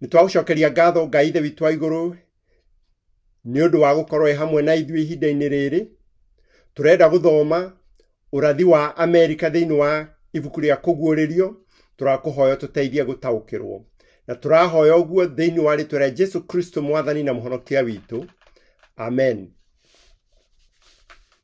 nĩ twagũcokeria ngatho ngai ithe witũ wa igũrũ nĩ ũndũ wa gũkorwo e hamwe na ithuĩ ihinda-inĩ rĩrĩ tũrenda gũthoma ũrathi wa amerika thĩinĩ wa ibuku rĩa kũguũrĩrio tũrakũhoya tũteithie gũtaũkĩrwo na tũrahoya ũguo thĩinĩ wa rĩtwa rĩa jesu kristo mwathani na mũhonokia witũ amen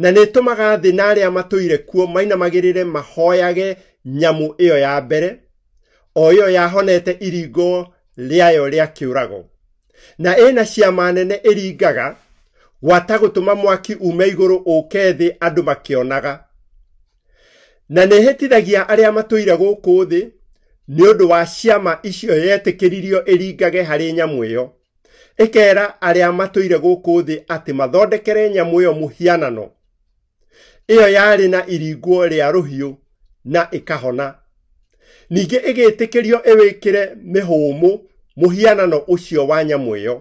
na nĩ ĩtũmaga thĩ na arĩa matũire kuo mainamagĩrĩre mahoyage nyamũ ĩyo ya mbere o ĩyo yahonete iringo rĩayo rĩa kĩũrago na ĩna ciama nene ĩringaga gwata gũtũma mwaki ume igũrũ ũke thĩ andũ makĩonaga na nĩ ĩhĩtithagia arĩa matũire gũkũ thĩ nĩ ũndũ wa ciama icio yetĩkĩririo ĩringage harĩ nyamũ ĩyo ĩkeera arĩa matũire gũkũ thĩ atĩ mathondekere nyamũ ĩyo mũhianano ĩyo yarĩ na iringuo rĩa rũhiũ na ĩkahona ningĩ ĩgĩtĩkĩrio ĩwĩkĩre mĩhũmũ mũhianano ũcio wa nyamũ ĩyo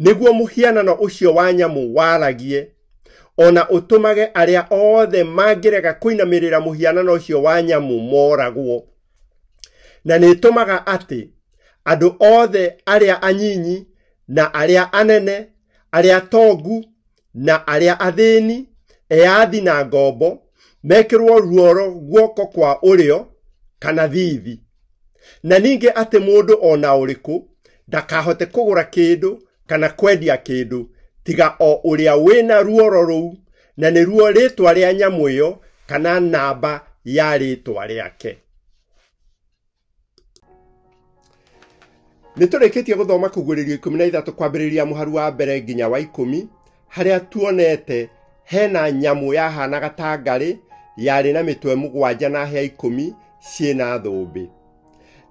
nĩguo mũhianano ũcio wa nyamũ waragie o na ũtũmage arĩa othe mangĩrega kũinamĩrĩra mũhianano ũcio wa nyamũ moragwo na nĩ ĩtũmaga atĩ andũ othe arĩa anyinyi na arĩa anene, arĩa atongu na arĩa athĩni, eyathi na ngombo, mekĩrwo ruo rwa guoko kwa ũrĩo kana thiithi. Na ningĩ atĩ mũndũ o na ũrĩkũ ndakahote kũgũra kĩndũ kana kwendia kĩndũ tiga o ũrĩa wĩna ruoro rũu na nĩruo rĩtwa rĩa nyamũ ĩyo kana namba ya rĩtwa rĩake nĩ tũrĩkĩtie gũthoma kũguũrĩrio ikũmi na ithatũ kwambĩrĩria mũharu wa mbere nginya wa ikũmi harĩa tuonete hena nyamũ yahanaga ta ngarĩ yarĩ na mĩtwe mũgwanja na hĩa ikũmi ciĩ na thũmbĩ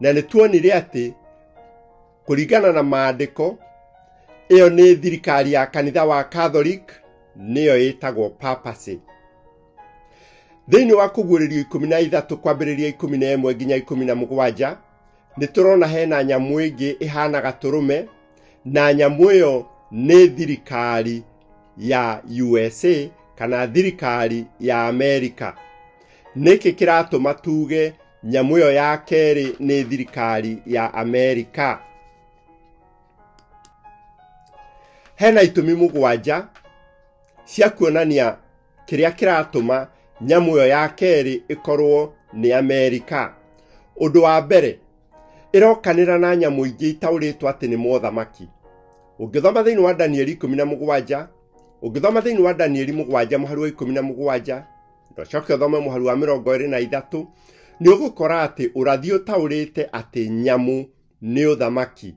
na nĩ tuonire atĩ kũringana na maandĩko ĩyo nĩ thirikari ya kanitha wa catholic nĩyo ĩtagwo papacy thĩinĩ wa kũguũrĩrio ikũmi na ithatũ kwambĩrĩria ikũmi na ĩmwe nginya ikũmi na mũgwanja nĩ tũrona hena nyamũ ĩngĩ ĩhana gatũrũme na nyamũ ĩyo nĩ thirikari ya usa kana thirikari ya amerika nĩkĩ kĩratũma tuge nyamũ ĩyo ya kerĩ nĩ thirikari ya amerika hena itũmi mũgwanja cia kuonania kĩrĩa kĩratũma nyamũ ĩyo ya kerĩ ĩkorwo nĩ amerika ũndũ wa mbere ĩrokanĩra na nyamũ ingĩ itaũrĩtwo atĩ nĩ mothamaki ũngĩthoma thĩinĩ wa danieli ikũmi na mũgwanja ũngĩthoma thĩinĩ wa danieli mũgwanja mũhari wa ikũmi na mũgwanja ndwacoke ũthome mũhari wa mĩrongo ĩrĩ na ithatũ nĩ ũgũkora atĩ ũrathi ũtaũrĩte atĩ nyamũ nĩ ũthamaki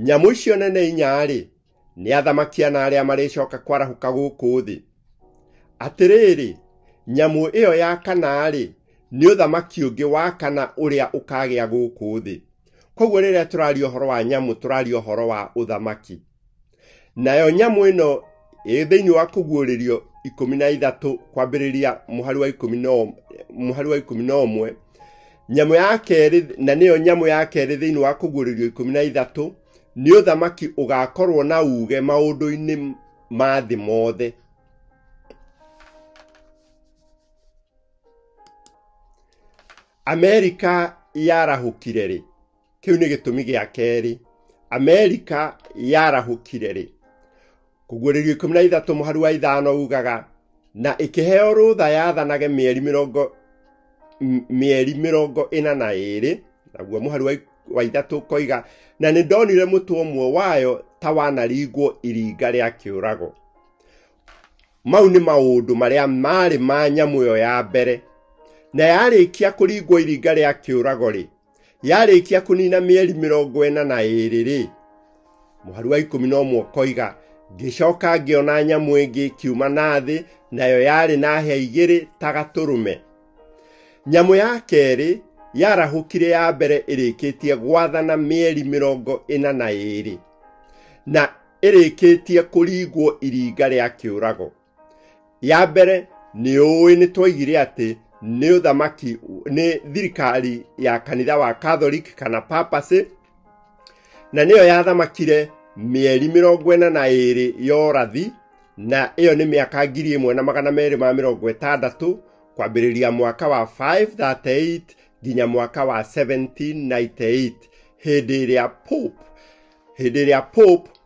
nyamũ icio nene inyarĩ nĩ athamakia na arĩa marĩcoka kwarahũka gũkũ thĩ atĩrĩrĩ nyamũ ĩyo ya kanarĩ nĩ ũthamaki ũngĩ wa kana ũrĩa ũkagĩa gũkũ thĩ koguo rĩrĩa tũraria ũhoro wa nyamũ tũraria ũhoro wa ũthamaki nayo nyamũ ĩno ĩ thĩinĩ wa kũguũrĩrio ikũmi na ithatũ kwambĩrĩria mũhari wa ikũmi na ũm- mũhari wa ikũmi na ũmwe nyamũ ya kerĩ na nĩyo nyamũ ya kerĩ thĩinĩ wa kũguũrĩrio ikũmi na ithatũ nĩ ũthamaki ũgakorwo na uge maũndũ-inĩ ma thĩ mothe amerika yarahũkire rĩ kĩu nĩ gĩtũmi gĩa kerĩ amerika yarahũkire rĩ kũguũrĩrio ikũmi na ithatũ mũhari wa ithano ugaga na ĩkĩheo rũtha yathanage mĩeri mĩrongo m- mĩeri mĩrongo ĩna na ĩrĩ naguo mũhari wa ik- wa ithatũ koiga na nĩ ndonire mũtwe ũmwe wayo ta wanaringwo iringa rĩa kĩũrago mau nĩ maũndũ marĩa marĩ ma nyamũ ĩyo ya mbere na yarĩkia kũringwo iringa rĩa kĩũrago rĩ yarĩkia kũnina mĩeri mĩrongo ĩna na ĩrĩ-rĩ mũhari wa ikũmi na ũmwe ũkoiga ngĩcoka ngĩona nyamũ ĩngĩ ĩkiuma na thĩ nayo yarĩ na hĩa igĩrĩ ta gatũrũme nyamũ ya kerĩ yarahũkire ya mbere ĩrĩkĩtie gwathana mĩeri mĩrongo ĩna na ĩrĩ na ĩrĩkĩtie kũringwo iringa rĩa kĩũrago ya mbere nĩ ũĩ nĩ twaigire atĩ nĩ ũthamaki nĩ thirikari ya kanitha wa catholic kana papacy na nĩyo yathamakire mĩeri mĩrongo ĩna na ĩrĩ ya ũrathi na ĩyo nĩ mĩaka ngiri ĩmwe na magana merĩ ma mĩrongo ĩtandatũ kwambĩrĩria mwaka wa 538 nginya mwaka wa 1798 hĩndĩ ĩrĩa pope hĩndĩ ĩrĩa pope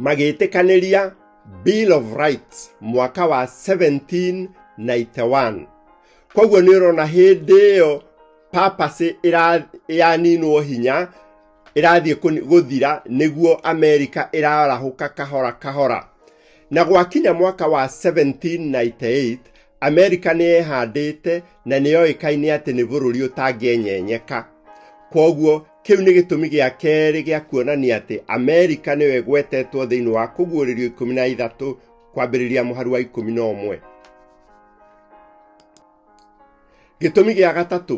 magĩtĩkanĩria bill of rights mwaka wa 1791 koguo nĩ ũrona hĩndĩ ĩyo papasĩ yaninwo hinya ĩrathiĩ gũthira nĩguo amerika ĩrarahũka kahora kahora na gwakinya mwaka wa 1798 amerika nĩ yehandĩte na nĩ yoĩkaine atĩ nĩ bũrũri ũtangĩenyenyeka koguo Kĩu nĩ gĩtũmi gĩa kerĩ gĩa kuonania atĩ Amerika nĩyo ĩgwetetwo thĩinĩ wa kũguũrĩrio ikũmi na ithatũ kwambĩrĩria mũharu wa ikũmi na ũmwe. Gĩtũmi gĩa gatatũ,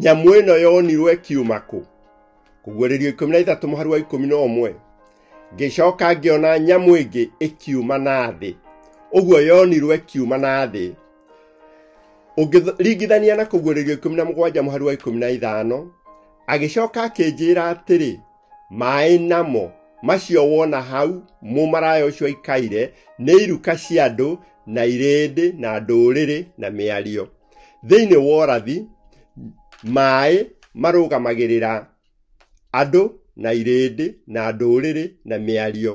nyamũ ĩno yonirwo ĩkiuma kũ? Kũguũrĩrio ikũmi na ithatũ mũharu wa ikũmi na ũmwe. Ngĩcoka ngĩona nyamũ ĩngĩ ĩkiuma na thĩ. Ũguo yonirwo ĩkiuma na thĩ ũngĩringithania na kũguũrĩrio ikũmi na mũgwanja mũhari wa ikũmi na ithano agĩcoka akĩnjĩra atĩrĩ maĩ namo macio wona hau mũmaraya ũcio aikaire nĩ iruka cia andũ na irĩndĩ na ndũrĩrĩ na mĩario thĩinĩ wa ũrathi maĩ marũgamagĩrĩra andũ na irĩndĩ na ndũrĩrĩ na mĩario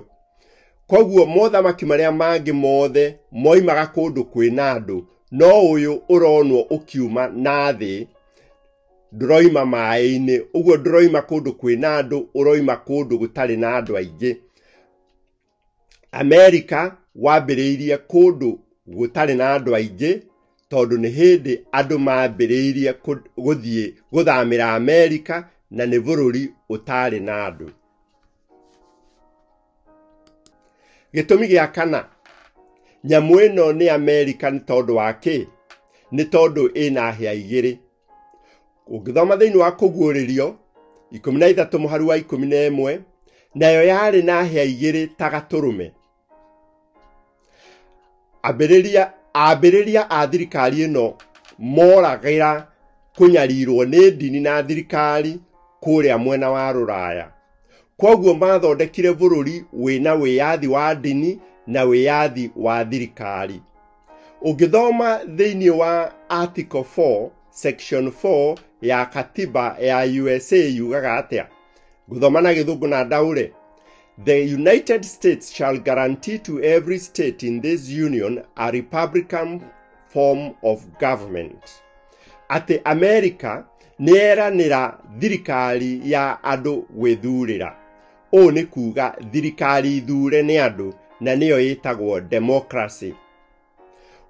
koguo mothamaki marĩa mangĩ mothe moimaga kũndũ kwĩna andũ no ũyũ ũronwo ũkiuma na thĩ ndũroima maĩ-inĩ ũguo ndũroima kũndũ kwĩna andũ ũroima kũndũ gũtarĩ na andũ aingĩ amerika wambĩrĩirie kũndũ gũtarĩ na andũ aingĩ tondũ nĩ hĩndĩ andũ mambĩrĩirie kũ- gũthiĩ gũthamĩra amerika na nĩ bũrũri ũtarĩ na andũ gĩtũmi gĩa kana nyamũ ĩno nĩ amerika nĩ tondũ wa kĩ nĩ tondũ ĩna hĩa igĩrĩ ũngĩthoma thĩinĩ wa kũguũrĩrio ikũmi na ithatũ mũharu wa ikũmi na ĩmwe nayo yarĩ na hĩa igĩrĩ ta gatũrũme ambĩrĩria ambĩrĩria a thirikari ĩno moragĩra kũnyarirwo nĩ ndini na thirikari kũrĩa mwena wa rũraya kwoguo mathondekire bũrũri wĩna wĩyathi wa ndini na wĩyathi wa thirikari ũngĩthoma thĩinĩ wa article 4 section 4 ya katiba ya usa yugaga atĩa ngũthoma na gĩthũngũ na ndaũre The United States shall guarantee to every state in this union a republican form of government. Atĩ Amerika nĩeranĩra thirikari ya andũ gwĩthurĩra. ũũ nĩ kuuga thirikari thure nĩ andũ na nĩyo ĩtagwo democracy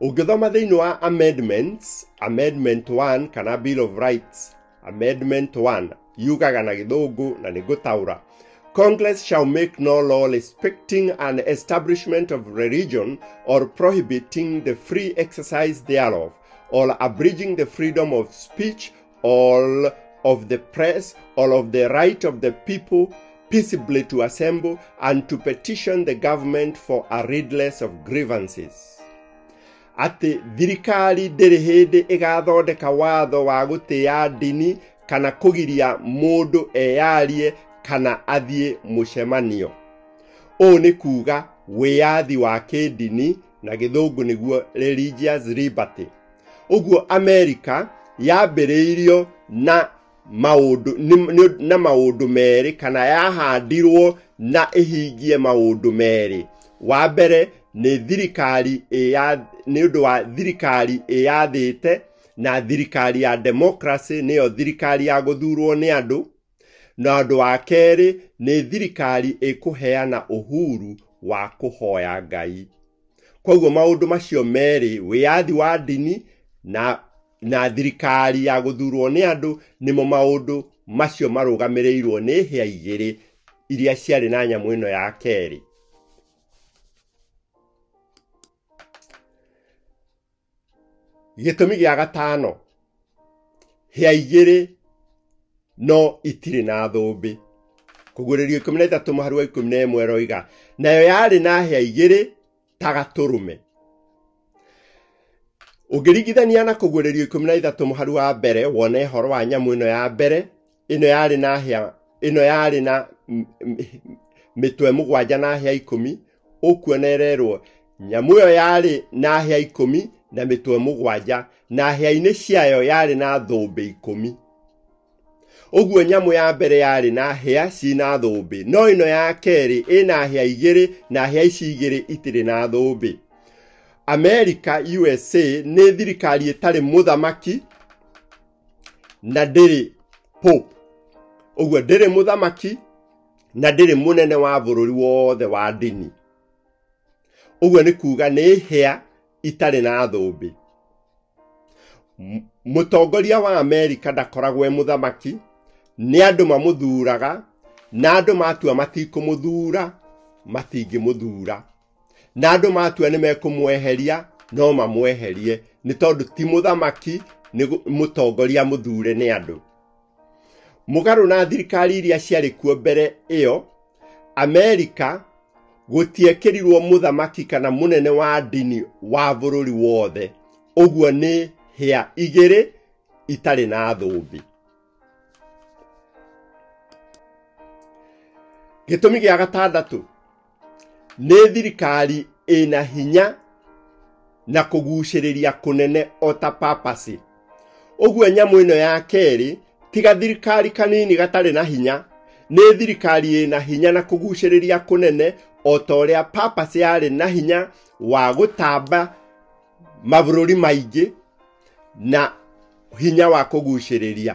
ũngĩthoma thĩinĩ wa amendments amendment 1 kana bill of rights amendment 1 yugaga na gĩthũngũ na nĩ gũtaũra Congress shall make no law respecting an establishment of religion or prohibiting the free exercise thereof, or abridging the freedom of speech all of the press, all of the right of the people peaceably to assemble and to petition the government for a redress of grievances. atĩ thirikari ndĩrĩ hĩndĩ ĩgathondeka watho wa gũtĩa ndini kana kũgiria mũndũ eyarie kana athiĩ mũcemanio ũũ nĩ kuuga wĩyathi wa kĩndini na gĩthũngũ nĩguo religious liberty ũguo america yambĩrĩirio na maũndũ nĩ- nĩ- na maũndũ merĩ kana yahandirwo na ĩhingie maũndũ merĩ wa mbere nĩ thirikari ĩya nĩ ũndũ wa thirikari ĩyathĩte na thirikari ya democracy nĩyo thirikari ya gũthurwo nĩ andũ Na ũndũ wa kerĩ nĩ thirikari ĩkũheana ũhuru wa kũhoya Ngai. Koguo maũndũ macio merĩ, wĩyathi wa ndini na, na thirikari ya gũthurwo nĩ andũ, nĩmo maũndũ macio marũgamĩrĩirwo nĩ hĩa igĩrĩ iria ciarĩ na nyamũ ĩno ya kerĩ. gĩtũmi gĩa gatano hĩa igĩrĩ no itirĩ na thũmbĩ kũguũrĩrio ikũmi na itatũ mũhari wa ikũmi na ĩmwe roiga nayo yarĩ na hĩa igĩrĩ ta gatũrũme ũngĩringithania na kũguũrĩrio ikũmi na ithatũ mũhari wa mbere wone horo wa nyamũ ĩno ya mbere ĩno yarĩ na hĩa ĩno yarĩ na m- m- mĩtwe mũgwanja na hĩa ikũmi ũkuona ĩrerwo nyamũ ĩyo yarĩ na hĩa ikũmi na mĩtwe mũgwanja na hĩa-inĩ ciayo yarĩ na thũmbĩ ikũmi ũguo nyamũ ya mbere yarĩ na hĩa ci na thũmbĩ no ĩno ya kerĩ ĩna hĩa igĩrĩ na hĩa ici igĩrĩ itirĩ na thũmbĩ amerika usa nĩ thirikari ĩtarĩ mũthamaki na ndĩrĩ pope ũguo ndĩrĩ mũthamaki na ndĩrĩ mũnene wa bũrũri wothe wa ndini ũguo nĩ kuga nĩ hĩa itarĩ na thũmbĩ M- mũtongoria wa amerika ndakoragwo e mũthamaki nĩ andũ mamũthuraga na andũ matua matikũmũthura matingĩmũthura na andũ matua nĩ mekũmweheria no mamweherie nĩ tondũ ti mũthamaki nĩ gũ- mũtongoria mũthure nĩ andũ mũgarũ na thirikari iria ciarĩ kuo mbere ĩyo amerika gũtiekĩrirwo mũthamaki kana mũnene wa ndini wa bũrũri wothe ũguo nĩ hĩa igĩrĩ itarĩ na thũmbĩ gĩtũmi gĩa gatandatũ nĩ thirikari ĩna hinya na kũgucĩrĩria kũnene o ta papasi ũguo nyamũ ĩno ya kerĩ tiga thirikari kanini gatarĩ na hinya nĩ thirikari ĩna hinya na kũgucĩrĩria kũnene o ta ũrĩa papasi yarĩ na hinya wa gũtamba mabũrũri maingĩ na hinya wa kũgucĩrĩria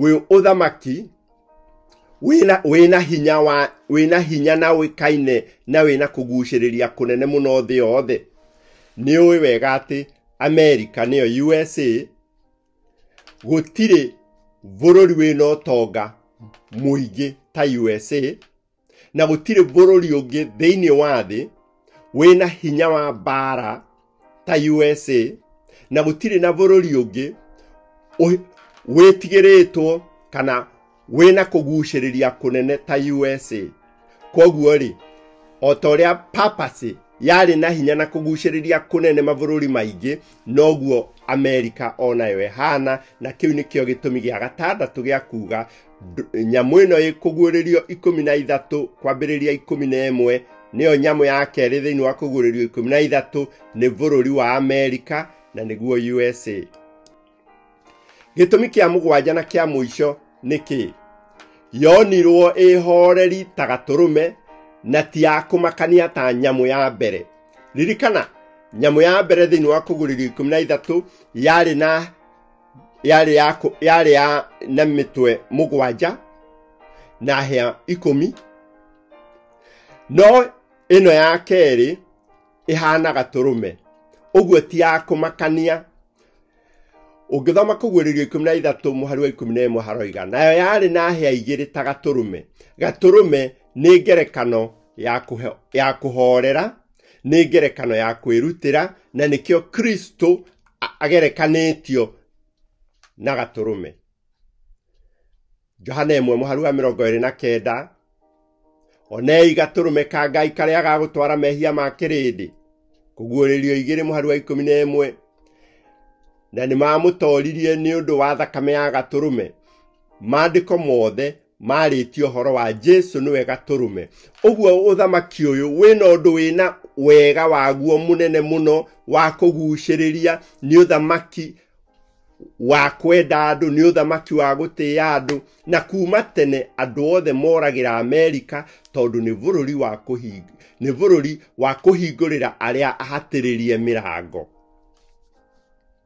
wĩ ũthamaki wĩna wĩna hinya wa wĩna hinya na ũĩkaine na wĩna kũgucĩrĩria kũnene mũno thĩ yothe nĩ ũĩ wega atĩ amerika nĩyo usa gũtirĩ bũrũri wĩna ũtonga mũingĩ ta usa na gũtirĩ bũrũri ũngĩ thĩinĩ wa thĩ wĩna hinya wa mbaara ta usa na gũtirĩ na bũrũri ũngĩ ũ- wĩtigĩrĩtwo kana wĩna kũgucĩrĩria kũnene ta usa kwoguo rĩ o ta ũrĩa papasi yarĩ na hinya na kũgucĩrĩria kũnene mabũrũri maingĩ noguo amerika o nayo ĩhana na kĩu nĩkĩo gĩtũmi gĩa gatandatũ gĩa kuga Ndũ- nyamũ ĩno ĩkũguũrĩrio ikũmi na ithatũ kwambĩrĩria ikũmi na ĩmwe nĩyo nyamũ ya kerĩ thĩinĩ wa kũguũrĩrio ikũmi na ithatũ nĩ bũrũri wa amerika na nĩguo usa gĩtũmi kĩa mũgwanja na kĩa mũico nĩ kĩĩ yonirwo ĩhoreri ta gatũrũme na ti ya kũmakania ta nyamũ ya mbere ririkana nyamũ ya mbere thĩinĩ wa kũguũrĩrio ikũmi na ithatũ yarĩ na yarĩ ya kũ- yarĩ ya na mĩtwe mũgwanja na hĩa ikũmi no ĩno ya kerĩ ĩhana gatũrũme ũguo ti ya kũmakania ũngĩthoma kũguũrĩrio ikũmi na ithatũ mũhari wa ikũmi na ĩmwe haroiga nayo yarĩ na hĩa igĩrĩ ta gatũrũme gatũrũme nĩ ngerekano ya kũhe- ya kũhorera nĩ ngerekano ya kwĩrutĩra na nĩkĩo kristo a- agerekanĩtio na gatũrũme johana ĩmwe mũharu wa mĩrongo ĩrĩ na kenda onei gatũrũme ka ngai karĩa gagũtwara mehia ma kĩrĩndĩ kũguũrĩrio igĩrĩ mũharu wa ikũmi na ĩmwe na nĩ mamũtoririe nĩ ũndũ wa thakame ya gatũrũme maandĩko mothe marĩtie ũhoro wa jesu nĩwe gatũrũme ũguo ũthamaki ũyũ wĩna ũndũ wĩna wega waguo mũnene mũno wa kũgucĩrĩria nĩ ũthamaki wa kwenda andũ nĩ ũthamaki wa gũtĩĩa andũ na kuma tene andũ othe moragĩra amerika tondũ nĩ bũrũri wa kũhing nĩ bũrũri wa kũhingũrĩra arĩa ahatĩrĩrie mĩrango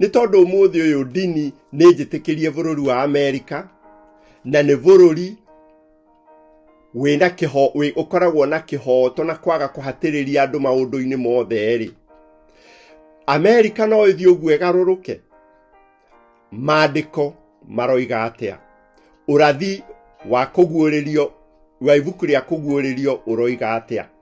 nĩ tondũ ũmũthĩ ũyũ ndini nĩ njĩtĩkĩrie bũrũri wa amerika na nĩ bũrũri wĩna kĩho wĩ ũkoragwo na kĩhooto na kwaga kũhatĩrĩria andũ maũndũ-inĩ mothe rĩ amerika no ĩthiĩ ũguo ĩgarũrũke maandĩko maroiga atĩa ũrathi wa kũguũrĩrio wa ibuku rĩa kũguũrĩrio ũroiga atĩa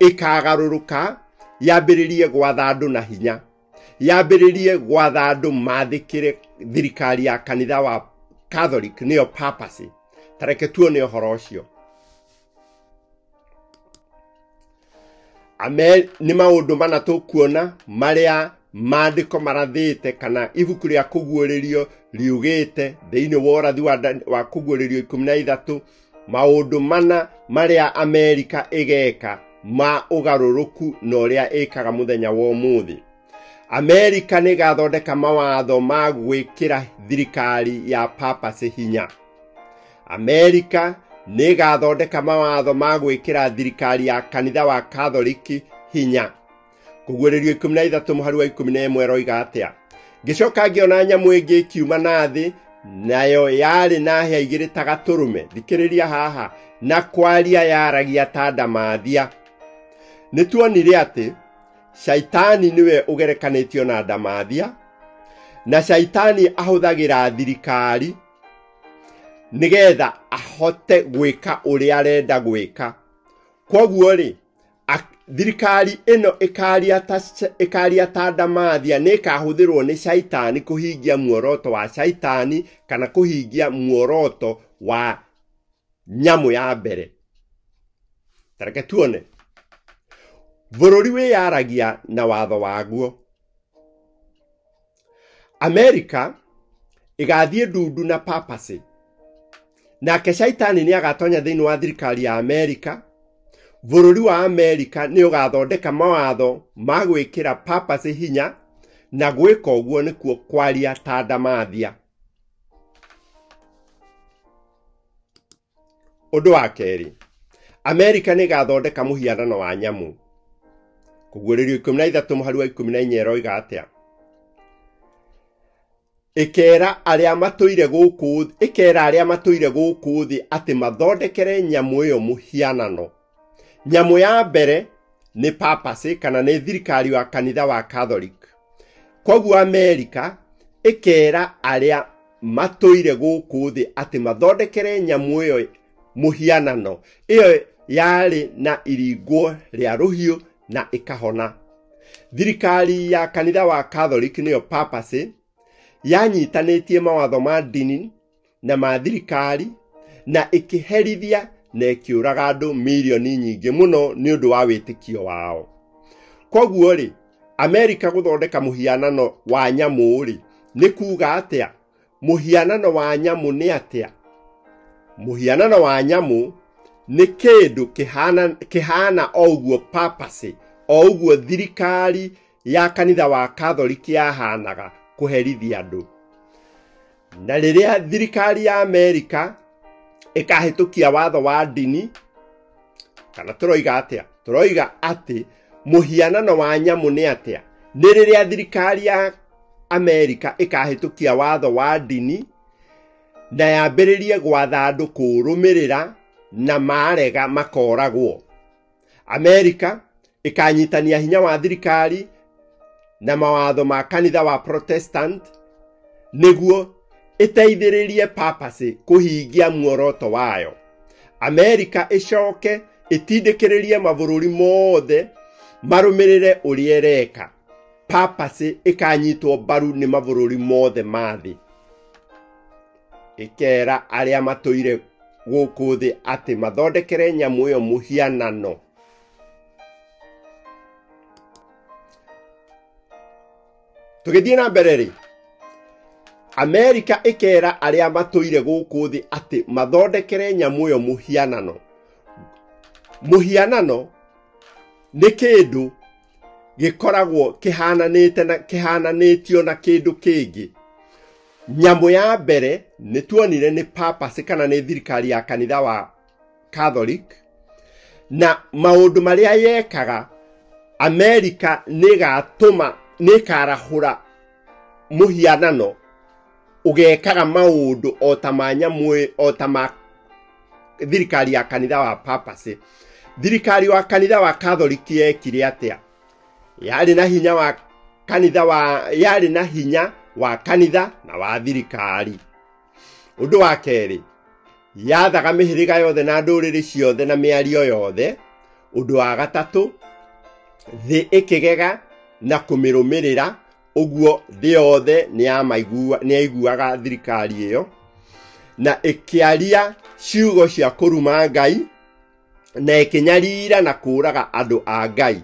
ĩkagarũrũka yambĩrĩrie gwatha andũ na hinya yambĩrĩrie gwatha andũ mathĩkĩre thirikari ya kanitha wa catholic nĩyo papacy tareke tuone ũhoro ũcio ame nĩ maũndũ mana tũkuona marĩa maandĩko marathĩte kana ibuku rĩa kũguũrĩrio riugĩte thĩinĩ wa ũrathi wa, Dan- wa kũguũrĩrio ikũmi na ithatũ maũndũ mana marĩa amerika ĩgeka ma ũgarũrũku na ũrĩa ĩkaga mũthenya wa ũmũthĩ amerika nĩ ĩgathondeka mawatho ma gwĩkĩra thirikari ya papasi hinya amerika nĩ ĩgathondeka mawatho ma gwĩkĩra thirikari ya kanitha wa katholiki hinya kũguũrĩrio ikũmi na ithatũ mũhari wa ikũmi na ĩmwe roiga atĩa ngĩcoka ngĩona nyamũ ĩngĩ ĩkiuma na thĩ nayo yarĩ na hĩa igĩrĩ ta gatũrũme thikĩrĩria haha na kwaria yaragia ta ndamathia nĩ tuonire atĩ shaitani nĩwe ũgerekanĩtio na ndamathia na shaitani ahũthagĩra thirikari nĩgetha ahote gwĩka ũrĩa arenda gwĩka kwoguo rĩ thirikari ĩno ĩkaria ta ndamathia nĩ ĩkahũthĩrwo nĩ caitani kũhingia muoroto wa caitani kana kũhingia muoroto wa nyamũ ya mbere tareke tuone bũrũri wĩyaragia na watho waguo amerika ĩgathiĩ ndundu na papasy nake shaitani nĩ agatonya thĩinĩ wa thirikari ya amerika bũrũri wa amerika nĩ ũgathondeka mawatho ma gwĩkĩra papasy hinya na gwĩka ũguo nĩkuo kwaria ta ndamathia ũndũ wa kerĩ amerika nä gathondeka må hianano wa nyamå kå guå rä rio ikå mi na ithatå må hari wa ikå mi na inya ĩroiga atä a ĩkera arĩa matũire gũkũ ĩkera arĩa matũire gũkũ thĩ atĩ mathondekere nyamũ ĩyo mũhianano nyamũ ya mbere nĩ papacy kana nĩ thirikari wa kanitha wa catholic koguo amerika ĩkera arĩa matũire gũkũ thĩ atĩ mathondekere nyamũ ĩyo mũhianano ĩyo yarĩ na iringwo rĩa rũhiũ na ĩkahona thirikari ya kanitha wa catholic nĩyo papacy yanyitanĩtie mawatho ma ndini na ma thirikari na ĩkĩherithia na ĩkĩũraga andũ milioni nyingĩ mũno nĩ ũndũ wa wĩtĩkio wao kwoguo rĩ amerika gũthondeka mũhianano wa nyamũ rĩ nĩ kuuga atĩa mũhianano wa nyamũ nĩ atĩa mũhianano wa nyamũ nĩ kĩndũ kĩhana, kĩhana o ũguo papasĩ o ũguo thirikari ya kanitha wa Katholiki yahaanaga kũherithia andũ. Na rĩrĩa thirikari ya Amerika ĩkahĩtũkia watho wa ndini, kana tũroiga atĩa? Tũroiga atĩ mũhianano wa nyamũ nĩ atĩa? Nĩ rĩrĩa thirikari ya Amerika ĩkahĩtũkia watho wa ndini na yambĩrĩrie gwatha andũ kũũrũmĩrĩra na marega makoragwo. amerika ĩkanyitania hinya wa thirikari na mawatho ma kanitha wa protestant nĩguo ĩteithĩrĩrie papasĩ kũhingia muoroto wayo amerika ĩcoke ĩtindĩkĩrĩrie mabũrũri mothe marũmĩrĩre ũrĩa ĩreka papasĩ ĩkanyitwo mbaru nĩ mabũrũri mothe ma thĩ ĩkeera arĩa matũire gũkũ thĩ atĩ mathondekere nyamũ ĩyo mũhianano tũgĩthiĩ na mbere rĩ amerika ĩkeera arĩa matũire gũkũ thĩ atĩ mathondekere nyamũ ĩyo mũhianano mũhianano nĩ kĩndũ gĩkoragwo kĩhananĩte na kĩhananĩtio na kĩndũ kĩngĩ Nyamũ ya mbere nĩ tuonire nĩ papacy kana nĩ thirikari ya kanitha wa Catholic na maũndũ marĩa yekaga Amerika nĩ ĩgatũma nĩ ĩkarahũra mũhianano ũgekaga maũndũ o ta ma nyamũ ĩ- o ta ma thirikari ya kanitha wa papacy thirikari wa kanitha wa Catholic yekire atĩa yarĩ na hinya wa kanitha wa yarĩ na hinya wa kanitha na wa thirikari ũndũ wa kerĩ yathaga mĩhĩrĩga yothe na ndũrĩrĩ ciothe na mĩario yothe ũndũ wa gatatũ thĩ ĩkĩgega na kũmĩrũmĩrĩra ũguo thĩ yothe nĩyaiguaga thirikari ĩyo na ĩkĩaria ciugo cia kũruma ngai na ĩkĩnyarira na kũũraga andũ a ngai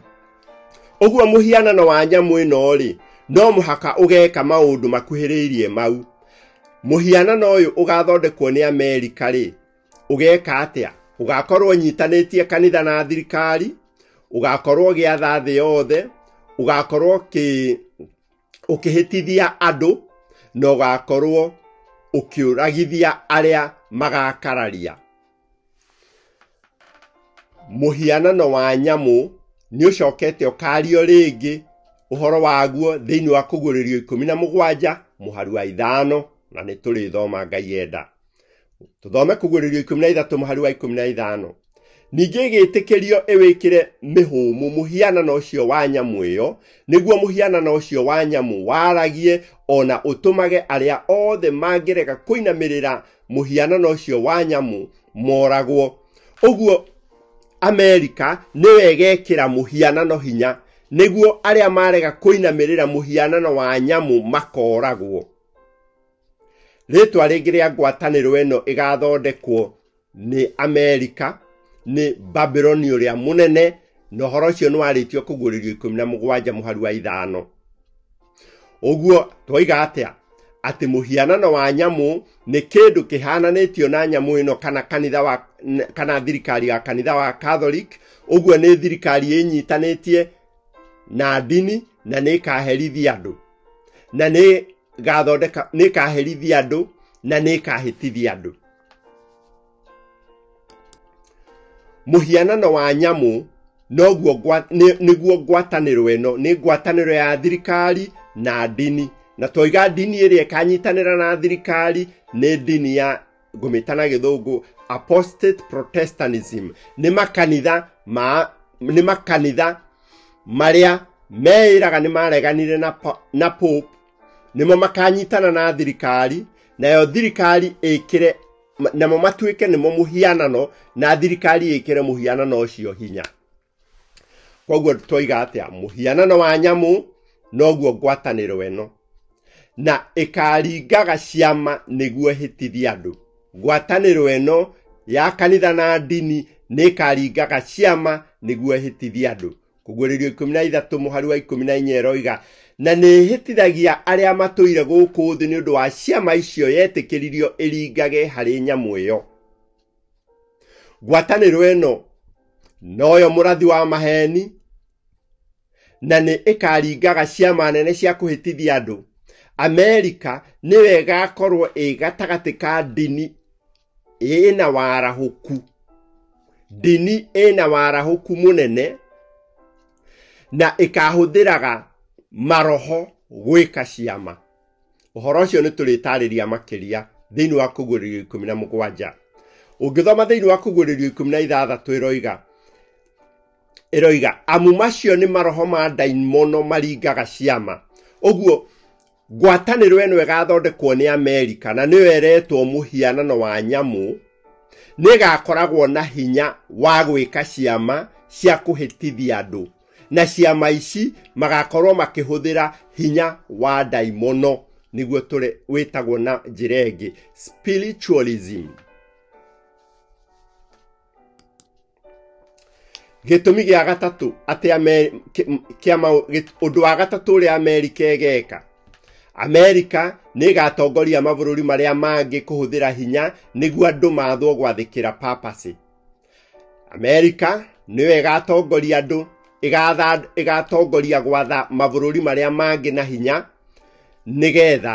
ũguo mũhianano wa nyamũ ĩno rĩ no mũhaka ũgeka maũndũ makuhĩrĩirie mau mũhianano ũyũ ũgathondekwo nĩ amerika rĩ ũgeka atĩa ũgakorwo ũnyitanĩtie kanitha na thirikari ũgakorwo ũgĩatha thĩ yothe ũgakorwo ũkĩ- ũkĩhĩtithia andũ na ũgakorwo ũkĩũragithia arĩa magakararia mũhianano wa nyamũ nĩ ũcokete ũkario rĩngĩ ũhoro waguo thĩinĩ wa kũguũrĩrio ikũmi na mũgwanja mũhari wa ithano na nĩ tũrĩthoma ngai enda tũthome kũguũrĩrio ikũmi na ithatũ mũhari wa ikũmi na ithano ningĩ ĩgĩtĩkĩrio ĩwĩkĩre mĩhũmũ mũhianano ũcio wa nyamũ ĩyo nĩguo mũhianano ũcio wa nyamũ waragie ona ũtũmage arĩa othe mangĩrega kũinamĩrĩra mũhianano ũcio wa nyamũ moragwo ũguo amerika nĩyo ĩgekĩra mũhianano hinya nĩguo arĩa marega kũinamĩrĩra mũhianano wa nyamũ makoragwo rĩtwa rĩngĩ rĩa ngwatanĩro ĩno ĩgathondekwo nĩ amerika nĩ babiloni ũrĩa mũnene na ũhoro ũcio nĩ warĩtio kũguũrĩrio ikũmi na mũgwanja mũhari wa ithano ũguo twoiga atĩa atĩ mũhianano wa nyamũ nĩ kĩndũ kĩhananĩtio na nyamũ ĩno kana kanitha wa n- kana thirikari ya kanitha wa catholic ũguo nĩ thirikari ĩnyitanĩtie na ndini na nĩ ĩkaherithia andũ na nĩ gathondeka nĩ ĩkaherithia andũ na nĩ ĩkahĩtithia andũ mũhianano wa nyamũ noguo ngwa- nĩ- nĩguo ngwatanĩro ĩno nĩ ngwatanĩro ya thirikari na ndini na toiga ndini ĩrĩa ĩkanyitanĩra na thirikari nĩ ndini ya ngũmĩta na gĩthũngũ apostate protestantism nĩ makanitha ma nĩ makanitha marĩa meĩraga nĩ mareganire na, po- na pope nĩmo makanyitana na thirikari nayo thirikari ĩkĩre Ma- namo matuĩke nĩmo mũhianano na thirikari ĩkĩre mũhianano ũcio hinya koguo twoiga atĩa mũhianano wa nyamũ noguo ngwatanĩro ĩno na ĩkaringaga ciama nĩguo ĩhĩtithie andũ ngwatanĩro ĩno ya kanitha na ndini nĩ ĩkaringaga ciama nĩguo ĩhĩtithie andũ kũguũrĩrio ikũmi na ithatũ mũhari wa ikũmi na inya ĩroiga na nĩĩhĩtithagia arĩa matũire gũkũ thĩ nĩ ũndũ wa ciama icio yetĩkĩririo ĩringage harĩ nyamũ ĩyo ngwatanĩro ĩno noyo mũrathi wa maheni na nĩ ĩkaringaga ciama nene cia kũhĩtithia andũ amerika nĩwe ĩgakorwo ĩ gatagatĩ ka ndini ĩna warahũku ndini ĩna warahũku mũnene na ĩkahũthĩraga maroho gwĩka ciama ũhoro ũcio nĩ tũrĩtarĩria makĩria thĩinĩ wa kũguũrĩrio ikũmi na mũgwanja ũngĩthoma thĩinĩ wa kũguũrĩrio ikũmi na ithathatũ ĩroiga ĩroiga amu macio nĩ maroho ma ndaimono maringaga ciama ũguo ngwatanĩro ĩno ĩgathondekwo nĩ amerika na nĩyo ĩretwo mũhianano wa nyamũ nĩ ĩgakoragwo na hinya wa gwĩka ciama cia kũhĩtithia andũ na ciama ici magakorwo makĩhũthĩra hinya wa ndaimono nĩguo tũre- wĩtagwo na njĩra ĩngĩ spiritualism gĩtũmi gĩa gatatũ atĩ kĩama ũndũ wa gatatũ ũrĩa amerika ĩgeka amerika nĩ ĩgatongoria mabũrũri marĩa mangĩ kũhũthĩra hinya nĩguo andũ mathwo gwathĩkĩra papasi amerika nĩyo ĩgatongoria andũ ĩgatongoria gwatha mabũrũri marĩa mangĩ na hinya nĩgetha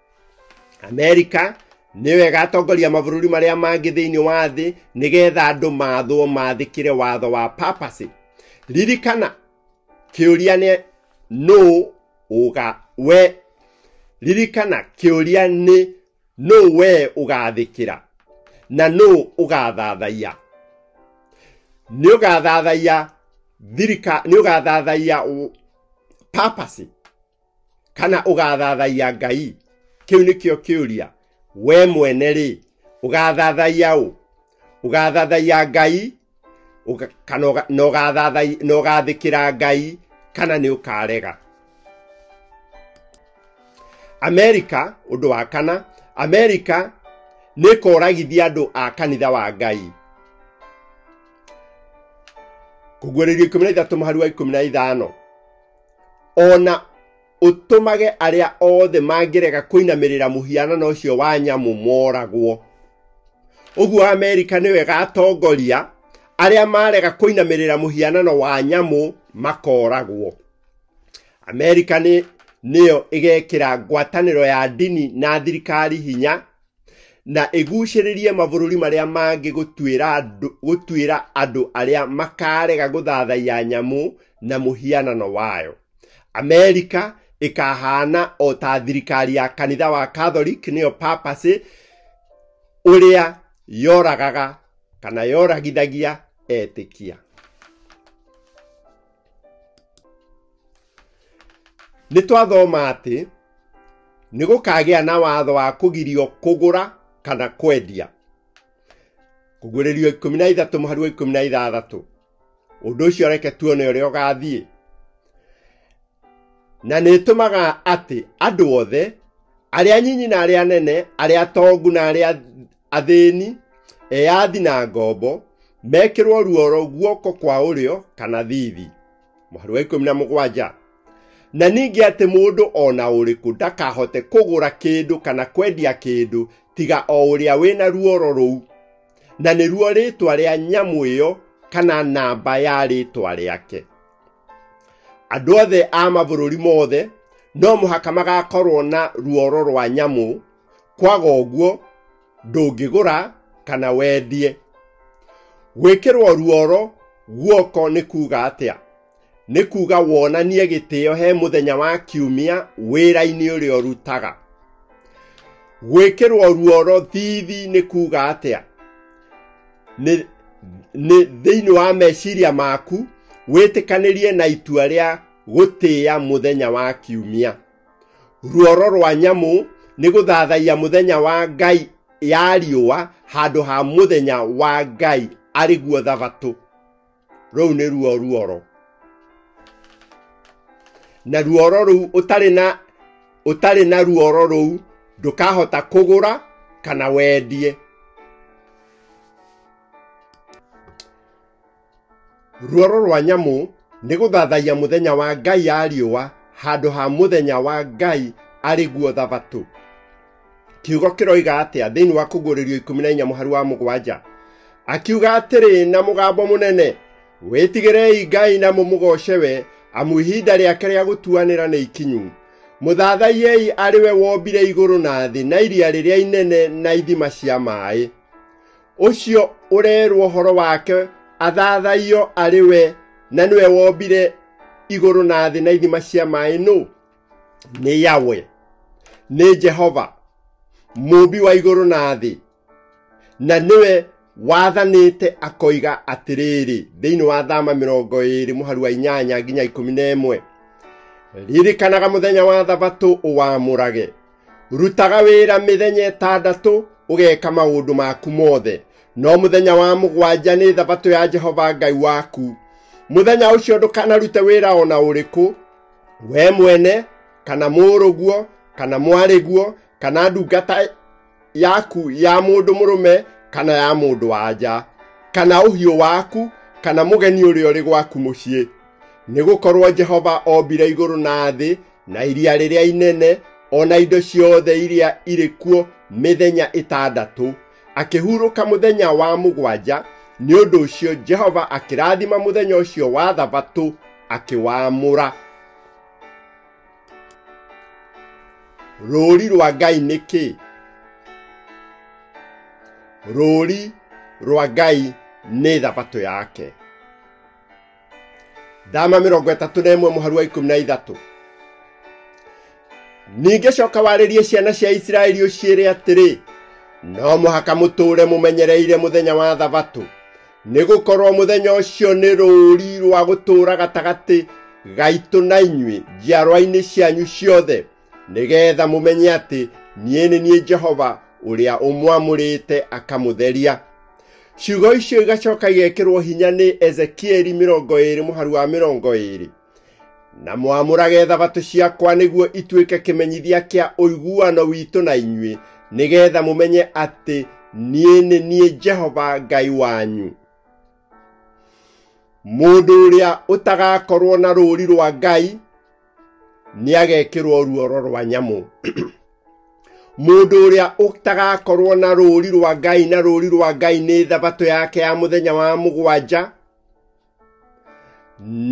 amerika nĩyo ĩgatongoria mabũrũri marĩa mangĩ thĩinĩ wa thĩ nĩgetha andũ mathwo mathĩkĩre watho wa papacy ririkana kĩũria nĩ nũ ũga we ririkana kĩũria nĩ nũ we ũgathĩkĩra na nũ ũgathathaiya nĩ ũgathathaiya thirika nĩ ũgathathaiya papacy kana ũgathathaiya ngai kĩu nĩkĩo kĩũria we mwene rĩ ũgathathaiya ũ ũgathathaiya ngai ũga- kana ũga- na ũgathathai- na ũgathĩkĩra ngai kana nĩ ũkarega amerika ũndũ wa kana amerika nĩ ĩkoragithia andũ a kanitha wa ngai kũguũrĩrio ikũmi na ithatũ mũhari wa ikũmi na ithano ona ũtũmage arĩa othe mangĩrega kũinamĩrĩra mũhianano ũcio wa nyamũ moragwo ũguo amerika nĩwe gatongoria arĩa marega kũinamĩrĩra mũhianano wa nyamũ makoragwo amerika nĩ nĩyo ĩgekĩra ngwatanĩro ya ndini na thirikari hinya na ĩgucĩrĩrie mabũrũri marĩa mangĩ gũtuĩra andũ- gũtuĩra andũ arĩa makarega gũthathaiya nyamũ na mũhianano wayo amerika ĩkahana o ta thirikari ya kanitha wa catholic nĩyo papacy ũrĩa yoragaga kana yoragithagia etĩkia nĩ twathoma atĩ nĩ gũkagĩa na watho wa kũgirio kũgũra kana kwendia kũguũrĩrio ikũmi na ithatũ mũhari wa ikũmi na ithathatũ ũndũ ũcio reke tuone ũrĩa ũgathiĩ na nĩ ĩtũmaga atĩ andũ othe arĩa nyinyi na arĩa nene arĩa atongu na arĩa athĩni eyathi na ngombo mekĩrwo ruoro guoko kwa ũrĩo kana thithi mũhari wa ikũmi na mũgwanja na ningĩ atĩ mũndũ o na ũrĩkũ ndakahote kũgũra kĩndũ kana kwendia kĩndũ tiga o ũrĩa wĩna ruoro rũu na nĩruo rĩtwa rĩa nyamũ ĩyo kana namba ya rĩtwa rĩake andũ othe a mabũrũri mothe no mũhaka magakorwo na ruoro rwa nyamũ kwaga ũguo ndũngĩgũra kana wendie gwĩkĩrwo ruoro guoko nĩ kuuga atĩa nĩ kuuga wonanie gĩtĩo he mũthenya wa kiumia wĩra-inĩ ũrĩa ũrutaga gwĩkĩrwo ruoro thithi nĩ kuuga atĩa nĩ nĩ thĩinĩ wa meciria maku wĩtĩkanĩrie na itua rĩa gũtĩya mũthenya wa kiumia ruoro rwa nyamũ nĩ gũthathaiya mũthenya wa ngai ya riũa handũ ha mũthenya wa ngai arĩ guo thabatũ rũu nĩ ruo ruoro na ruoro rũu ũtarĩ na ũtarĩ na ruoro rũu ndũkahota kũgũra kana wendie ruoro rwa nyamũ nĩ gũthathaiya mũthenya wa ngai ya riũa handũ ha mũthenya wa ngai arĩ guo thabatũ kiugo kĩroiga atĩa thĩinĩ wa kũguũrĩrio ikũmi na inya mũhari wa mũgwanja akiuga atĩrĩ na mũgambo mũnene wĩtigĩrei ngai na mũmũgoce we amu ihinda rĩake rĩa gũtuanĩra nĩ ikinyu mũthathaiei arĩ we wombire igũrũ na thĩ na iria rĩrĩa inene na ithima cia maĩ ũcio ũrerwo ũhoro wake athathaiyo arĩ we na nĩwe wombire igũrũ na thĩ na ithima cia maĩ nũ nĩ yawe nĩ jehova mũmbi wa igũrũ na thĩ na nĩwe wathanĩte akoiga atĩrĩrĩ thĩinĩ wa thama mĩrongo ĩrĩ mũharu wa inyanya nginya ikũmi na ĩmwe ririkanaga mũthenya wa thabatũ ũwamũrage rutaga wĩra mĩthenya ĩtandatũ ũgeka maũndũ maku mothe no mũthenya wa mũgwanja nĩ thabatũ ya jehova ngai waku mũthenya ũcio ndũkanarute wĩra o na ũrĩkũ we mwene kana mũrũguo kana mwarĩguo kana ndungata yaku ya mũndũ mũrũme kana ya mũndũ wanja kana ũhiũ waku kana mũgeni ũrĩa ũrĩ gwaku mũciĩ nĩ gũkorwo jehova ombire igũrũ na thĩ na iria rĩrĩa inene o na indo ciothe iria irĩ kuo mĩthenya ĩtandatũ akĩhurũka mũthenya wa mũgwanja nĩ ũndũ ũcio jehova akĩrathima mũthenya ũcio wa thabatũ akĩwamũra rũũri rwa ngai nĩ kĩ rũũri rwa ngai nĩ thabatũ yake ndama mĩrongo ĩtatũ na ĩmwe mũharu wa ikũmi na ithatũ ningĩ coka warĩrie ciana cia isiraeli ũciĩre atĩrĩ no mũhaka mũtũũre mũmenyereire mũthenya wa thabatũ nĩ gũkorwo mũthenya ũcio nĩ rũũri rwa gũtũũra gatagatĩ gaitũ na inyuĩ njiarwa-inĩ cianyu ciothe nĩgeetha mũmenye atĩ niĩ nĩ niĩ jehova ũrĩa ũmwamũrĩte akamũtheria ciugo icio igacoka igekĩrwo hinya nĩ ezekieli mĩrongo ĩĩrĩ mũharu wa mĩrongo ĩĩrĩ na mwamũrage thabatũ ciakwa nĩguo ituĩke kĩmenyithia kĩa ũiguano witũ na inyuĩ nĩgeetha mũmenye atĩ niĩ nĩ niĩ jehova ngai wanyu mũndũ ũrĩa ũtagakorwo na rũũri rwa ngai nĩ agekĩrwo ruoro rwa nyamũ mũndũ ũrĩa ũtagakorwo na rũũri rwa ngai na rũũri rwa ngai nĩ thabatũ yake ya mũthenya wa mũgwanja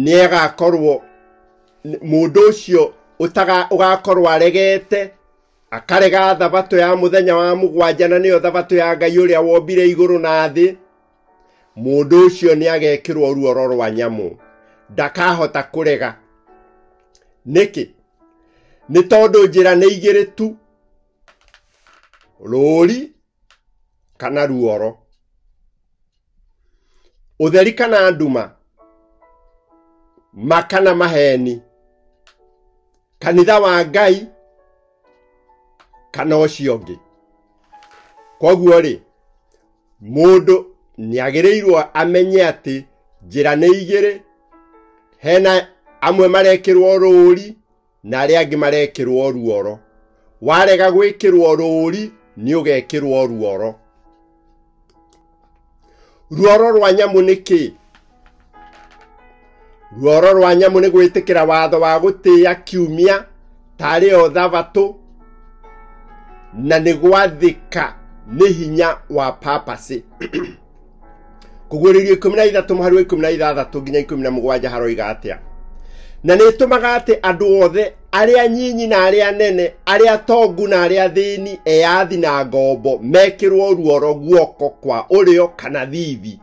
nĩ agakorwo mũndũ ũcio ũgakorwo aregete akarega thabatũ ya mũthenya wa mũgwanja na nĩyo thabatũ ya ngai ũrĩa wombire igũrũ na thĩ mũndũ ũcio nĩ agekĩrwo ruoro rwa nyamũ ndakahota kũrega nĩkĩ nĩ tondũ njĩra nĩ igĩrĩ tu rũũri kana ruoro ũtheri kana nduma ma kana maheni kanitha wa ngai kana ũcio ũngĩ koguo rĩ mũndũ nĩagĩrĩirwo amenye atĩ njĩra nĩ igĩrĩ hena amwe marekĩrwo rũũri na arĩa angĩ marekĩrwo ruoro warega gwĩkĩrwo rũũri nĩ ũgekĩrwo ruoro ruoro rwa nyamũ nĩ kĩĩ ruoro rwa nyamũ nĩ gwĩtĩkĩra watho wa gũtĩĩa kiumia tarĩ o thabatũ na nĩ gwathĩka nĩ hinya wa papasĩ kũguũrĩrio ikũmi na ithatũ mũhari wa ikũmi na ithathatũ nginya ikũmi na mũgwanja haroiga atĩa na nĩ ĩtũmaga atĩ andũ othe arĩa nyinyi na arĩa nene arĩa tongu na arĩa thĩni eyathi na ngombo mekĩrwo ruoro guoko kwa ũrĩo kana thithi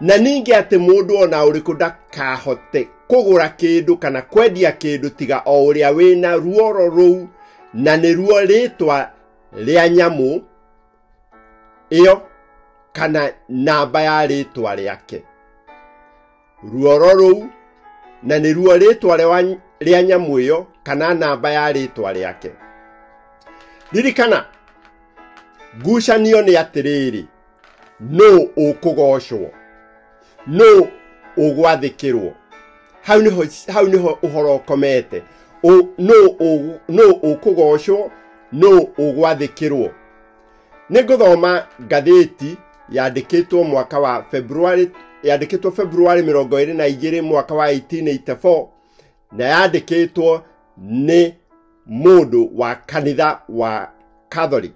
na ningĩ atĩ mũndũ o na ũrĩkũ ndakahote kũgũra kĩndũ kana kwendia kĩndũ tiga o ũrĩa wĩna ruoro rũu na nĩruo rĩtwa rĩa nyamũ ĩyo kana namba ya rĩtwa rĩake ruoro rũu na nĩruo rĩtwa rĩa- rĩa nyamũ ĩyo kana namba ya rĩtwa rĩake ririkana ngucanio nĩ atĩrĩrĩ nũ ũkũgocwo nũ ũgwathĩkĩrwo hau nĩho hau nĩho ũhoro ũkomete Ũ- nũ ũgũ- nũ ũkũgocwo nũ ũgwathĩkĩrwo nĩ ngũthoma ngathĩti yandĩkĩtwo mwaka wa February yandĩkĩtwo February mĩrongo ĩrĩ na igĩrĩ mwaka wa 1884 na yandĩkĩtwo nĩ mũndũ wa kanitha wa Catholic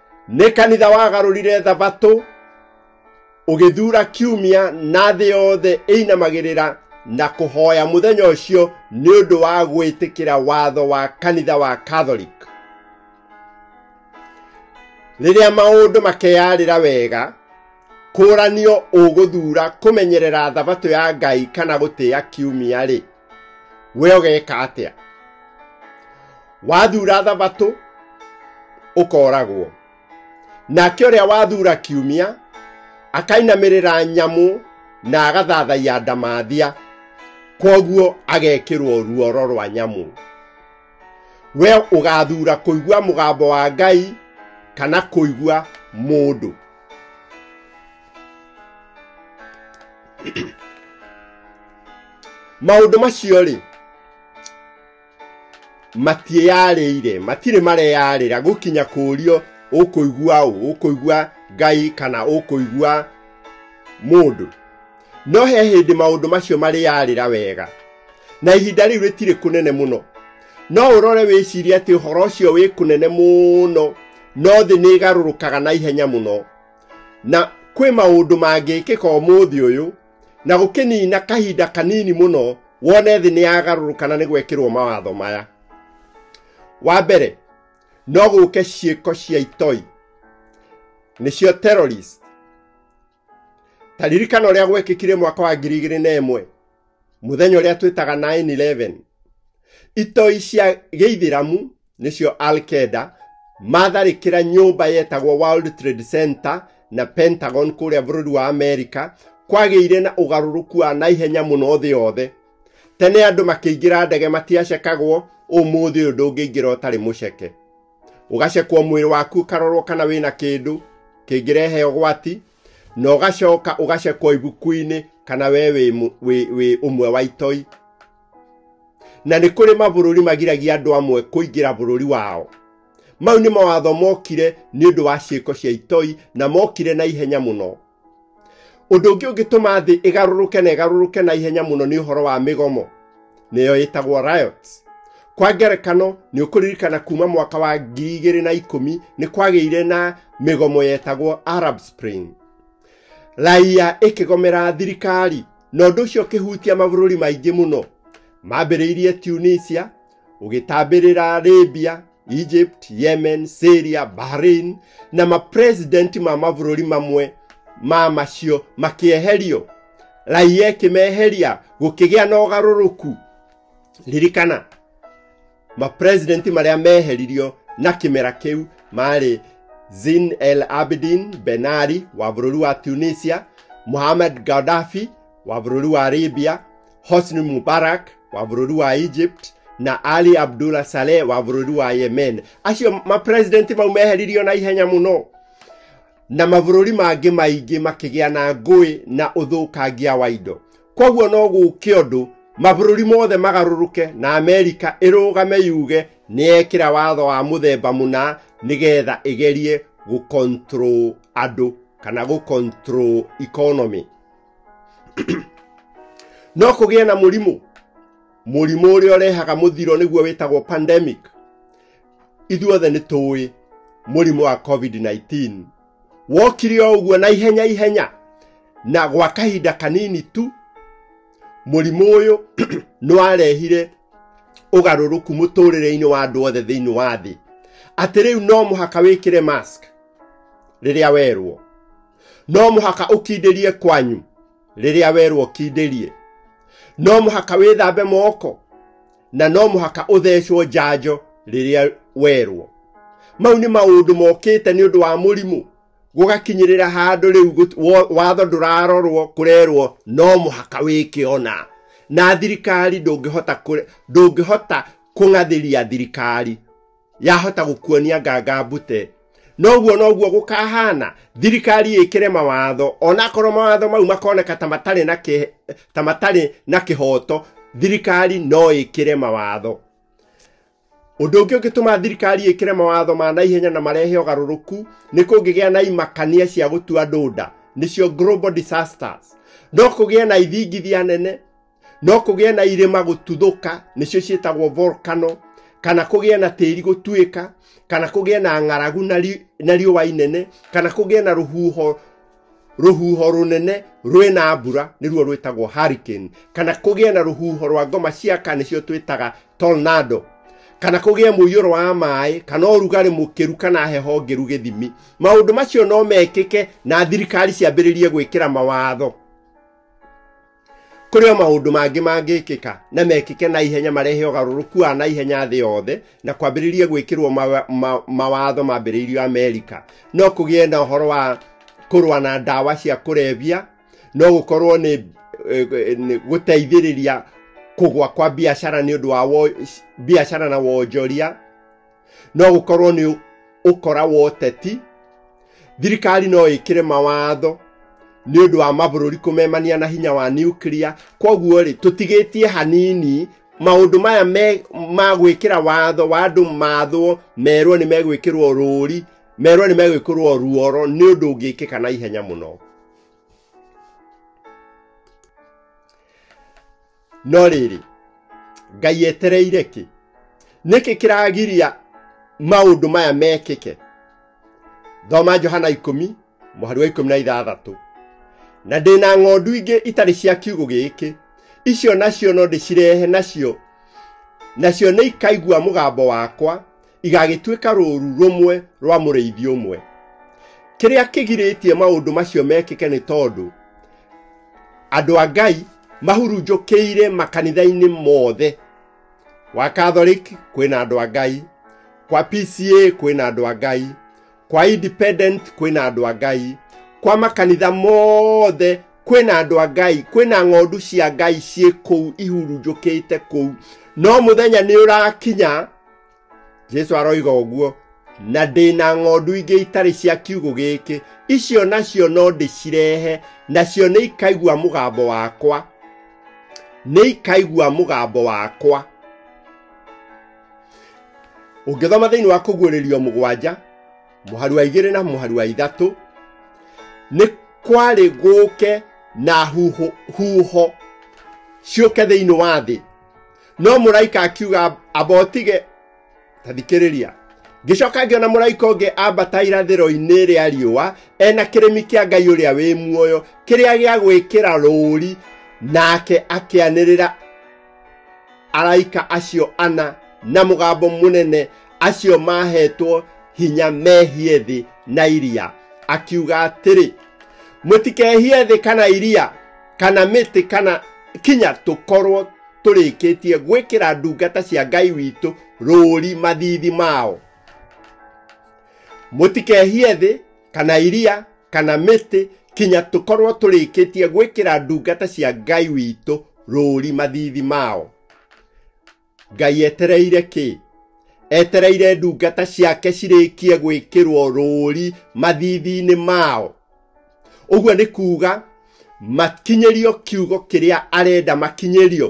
nĩ kanitha wagarũrire thabatũ ũgĩthura kiumia na thĩ yothe ĩinamagĩrĩra na kũhoya mũthenya ũcio nĩ ũndũ wa gwĩtĩkĩra watho wa kanitha wa catholic rĩrĩa maũndũ makeyarĩra wega kũranio ũgũthura kũmenyerera thabatũ ya ngai kana gũtĩa kiumia-rĩ we ũgeka atĩa wathura thabatũ ũkoragwo nake ũrĩa wathura kiumia akainamĩrĩra nyamũ na agathathaiya ndamathia kwoguo agekĩrwo ruoro rwa nyamũ we ũgathura kũigua mũgambo wa ngai kana kũigua mũndũ maũndũ macio rĩ matiĩyarĩire matirĩ mareyarĩra gũkinya kũũrio ũkũigua ũ ũkũigua ngai kana ũkũigua mũndũ no he hĩndĩ maũndũ macio marĩyarĩra wega na ihinda rĩu rĩtirĩ kũnene mũno no ũrore wĩcirie atĩ ũhoro ũcio wĩ kũnene mũno no thĩ nĩ ĩgarũrũkaga na ihenya mũno na kwĩ maũndũ mangĩkĩka ũmũthĩ ũyũ na gũkĩnina kahinda kanini mũno wone thĩ nĩ yagarũrũka na nĩ gwekĩrwo mawatho maya wa mbere no gũke ciĩko cia itoi nĩcio terrorist ta ririkana ũrĩa gwekĩkire mwaka wa ngiri igĩrĩ na ĩmwe mũthenya ũrĩa twĩtaga 911 itoi cia gĩithĩramu nĩcio alkeda matharĩkĩra nyũmba yetagwo world trade center na pentagon kũrĩa bũrũri wa amerika kwagĩire na ũgarũrũku wa naihenya mũno thĩ yothe tene andũ makĩingĩra ndege matiacekagwo ũmũthĩ ũyũ ndũngĩingĩra ũtarĩ mũceke ũgacekwo mwĩrĩ waku ũkarorwo kana wĩna kĩndũ kĩngĩrehe ũgwati na ũgacoka ũgacekwo ibuku-inĩ kana we wĩ mũ- wĩ- wĩ ũmwe wa itoi na nĩ kũrĩ mabũrũri magiragia andũ amwe kũingĩra bũrũri wao mau nĩ mawatho mokire nĩ ũndũ wa ciĩko cia itoi na mokire na ihenya mũno ũndũ ũngĩ ũngĩtũma thĩ ĩgarũrũke na ĩgarũrũke na ihenya mũno nĩ ũhoro wa mĩgomo nĩyo ĩtagwo riots kwa ngerekano nĩ ũkũririkana kuma mwaka wa ngiri igĩrĩ na ikũmi nĩ kwagĩire na mĩgomo yetagwo arab spring raiya ĩkĩgomera thirikari na ũndũ ũcio ũkĩhutia mabũrũri maingĩ mũno mambĩrĩirie tunisia ũgĩtambĩrĩra arabia egypt yemen syria bahrain na mapresidenti ma mabũrũri mamwe ma macio makĩeherio raia ĩkĩmeheria gũkĩgĩa na ũgarũrũku ririkana mapresidenti marĩa meheririo na kĩmera kĩu marĩ zin el abidin benari wa bũrũri wa tunisia mohamed gaddafi wa bũrũri wa libya hosni mubarak wa burodi wa egypt na ali abdullah saleh wa burodi wa yemen acio mapresidenti mau meheririo na ihenya mũno na mabũrũri mangĩ maingĩ makĩgĩa na ngũĩ na ũthũkangia wa indo kwoguo no gũke ũndũ mabũrũri mothe magarũrũke na amerika ĩrũgame yuge nĩyekĩra watho wa mũthemba mũna nĩgetha ĩgerie gũcontrol andũ kana gũcontrol economy no kũgĩe na mũrimũ mũrimũ ũrĩa ũrehaga mũthiro nĩguo wĩtagwo pandemic ithuothe nĩ tũĩ mũrimũ wa covid-19 wokire o ũguo na ihenya ihenya na gwa kahinda kanini tu mũrimũ ũyũ nĩ warehire ũgarũrũku mũtũrĩre-inĩ wa andũ othe thĩinĩ wa thĩ atĩ rĩu no mũhaka wĩkĩre mask rĩrĩa werwo no mũhaka ũkindĩrie kwanyu rĩrĩa werwo kindĩrie no mũhaka wĩthambe moko na no mũhaka ũthecwo njanjo rĩrĩa werwo mau nĩ maũndũ mokĩte nĩ ũndũ wa mũrimũ gũgakinyĩrĩra handũ rĩu gũt- wo- watho ndũrarorwo kũrerwo no mũhaka wĩke ona na thirikari ndũngĩhota kũre- ndũngĩhota kũng'athĩria thirikari yahota gũkuonia nganga mbute noguo noguo gũkahana thirikari ĩkĩre mawatho onakorwo mawatho mau makoneka ta matarĩ na kĩ- ta matarĩ na kĩhoto thirikari no ĩkĩre mawatho ũndũ ũngĩ ũngĩtũma thirikari ĩkĩre mawatho ma naihenya na marehe ũgarũrũku nĩ kũngĩgĩa na imakania cia gũtua andũ nda nĩcio global disasters no kũgĩe na ithingithia nene no kũgĩa na irĩma gũtuthũka nĩcio ciĩtagwo volcano kana kũgĩa na tĩri gũtuĩka kana kũgĩa na ng'aragu na ri- na riũa inene kana kũgĩa na rũhuho rũhuho rũnene rwĩ na mbura nĩruo rwĩtagwo hurricane kana kũgĩa na rũhuho rwa ngoma ciaka nĩcio twĩtaga tornado kana kũgĩa mũiyũro wa maĩ kana ũrugarĩ mũkĩru kana heho ngĩru gĩthimi maũndũ macio no mekĩke na thirikari ciambĩrĩrie gwĩkĩra mawatho kũrĩ o maũndũ mangĩ mangĩkĩka na mekĩke na ihenya marehe ũgarũrũku wa na ihenya thĩ yothe na kwambĩrĩrie gwĩkĩrwo mawa- ma- mawatho mambĩrĩirio amerika no kũgĩe na ũhoro wa kũrũa na ndawa cia kũrebia no gũkorwo nĩ eh, eh, nĩ gũteithĩrĩria kũgwa kwa biacara nĩ ũndũ wa wo- biacara na wonjoria no gũkorwo nĩ ũkora wa ũteti thirikari no ĩkĩre mawatho nĩ ũndũ wa mabũrũri kũmemania na hinya wa nuclear kwoguo rĩ tũtigĩtie hanini maũndũ maya me ma gwĩkĩra watho wa andũ mathwo merwo nĩ megwĩkĩrwo rũũri merwo nĩ megwĩkĩrwo ruoro nĩ ũndũ ũngĩkĩka na ihenya mũno no rĩrĩ ngai etereire kĩ nĩkĩ kĩragiria maũndũ maya mekĩke thoma johana ikũmi mũhari wa ikũmi na ithathatũ na ndĩ na ng'ondu ingĩ itarĩ cia kiugũ gĩkĩ icio nacio no ndĩcirehe nacio nacio nĩ ikaigua mũgambo wakwa igagĩtuĩka rũũru rũmwe rwa mũrĩithi ũmwe kĩrĩa kĩgirĩtie maũndũ macio mekĩke nĩ tondũ andũ a ngai mahurunjũkĩire makanitha-inĩ mothe wa catholic kwĩna andũ a ngai kwa pca kwĩna andũ a ngai kwa independent kwĩna andũ a ngai kwa makanitha mothe kwĩna andũ a ngai kwĩna ng'ondu cia ngai ciĩ kũu ihurunjũkĩte kũu no mũthenya nĩ ũrakinya jesu aroiga ũguo na ndĩ na ng'ondu ingĩ itarĩ cia kiugũ gĩkĩ icio nacio no ndĩcirehe nacio nĩ ikaigua mũgambo wakwa nĩ ikaigua mũgambo wakwa ũngĩthoma thĩinĩ wa kũguũrĩrio mũgwanja mũharu wa igĩrĩ na mũharu wa ithatũ nĩ kwarĩ gũke na huho, huho ciũke thĩinĩ wa thĩ no mũraika akiuga ambotige ta thikĩrĩria ngĩcoka ngĩona mũraika ũngĩ ambata irathĩro-inĩ rĩa riũa ena kĩrĩmi kĩa ngai ũrĩa wĩ muoyo kĩrĩa gĩa gwĩkĩra rũũri nake akĩanĩrĩra araika acio ana na mũgambo mũnene acio mahetwo hinya mehie thĩ na iria akiuga atĩrĩ mũtikehie thĩ kana iria kana mĩtĩ kana kinya tũkorwo tũrĩkĩtie gwĩkĩra ndungata cia ngai witũ rũũri mathithi mao mũtikehie thĩ kana iria kana mĩtĩ kinya tũkorwo tũrĩkĩtie gwĩkĩra ndungata cia ngai witũ rũũri mathithi mao ngai etereire kĩ etereire ndungata ciake cirĩkie gwĩkĩrwo rũũri mathithi-inĩ mao ũguo nĩ kuuga makinyĩrio kiugo kĩrĩa arenda makinyĩrio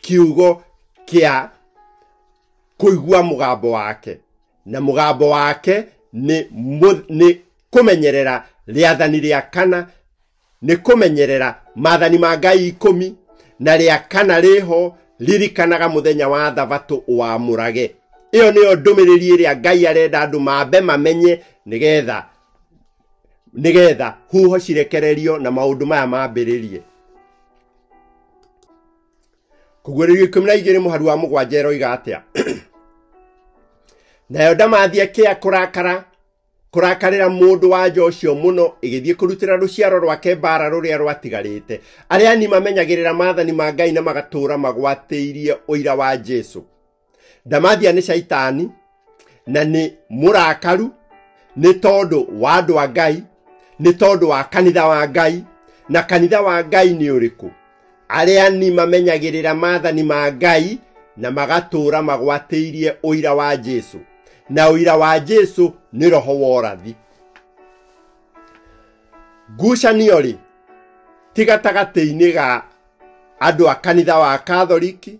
kiugo kĩa kũigua mũgambo wake na mũgambo wake nĩ, mũ- nĩ kũmenyerera rĩathani rĩa kana nĩ kũmenyerera maathani ma ngai ikũmi na rĩa kana rĩho ririkanaga mũthenya wa thabatũ ũwamũrage ĩyo nĩyo ndũmĩrĩri ĩrĩa ngai arenda andũ mambe mamenye nĩgetha nĩgetha huho cirekererio na maũndũ maya mambĩrĩrie kũguũrĩrio ikũmi na igĩrĩ mũhari wa mũgwanja eroiga atĩa nayo ndamathi akĩa kũrakara kũrakarĩra mũndũ wa nja ũcio mũno ĩgĩthiĩ kũrutĩra rũciaro rwake mbaara rũrĩa rwatigarĩte arĩa ani mamenyagĩrĩra maathani ma ngai na magatũũra magwatĩirie ũira wa jesu ndamathia nĩ caitani na nĩ mũrakaru nĩ tondũ wa andũ a ngai nĩ tondũ wa kanitha wa ngai na kanitha wa ngai nĩ ũrĩkũ Areani mamenyagĩrĩra maathani ma Ngai na magatũũra magwatĩirie ũira wa Jesu. Na ũira wa Jesu nĩ roho wa ũrathi. Ngucanio-rĩ, ti gatagatĩ-inĩ ga andũ a kanitha wa Katholiki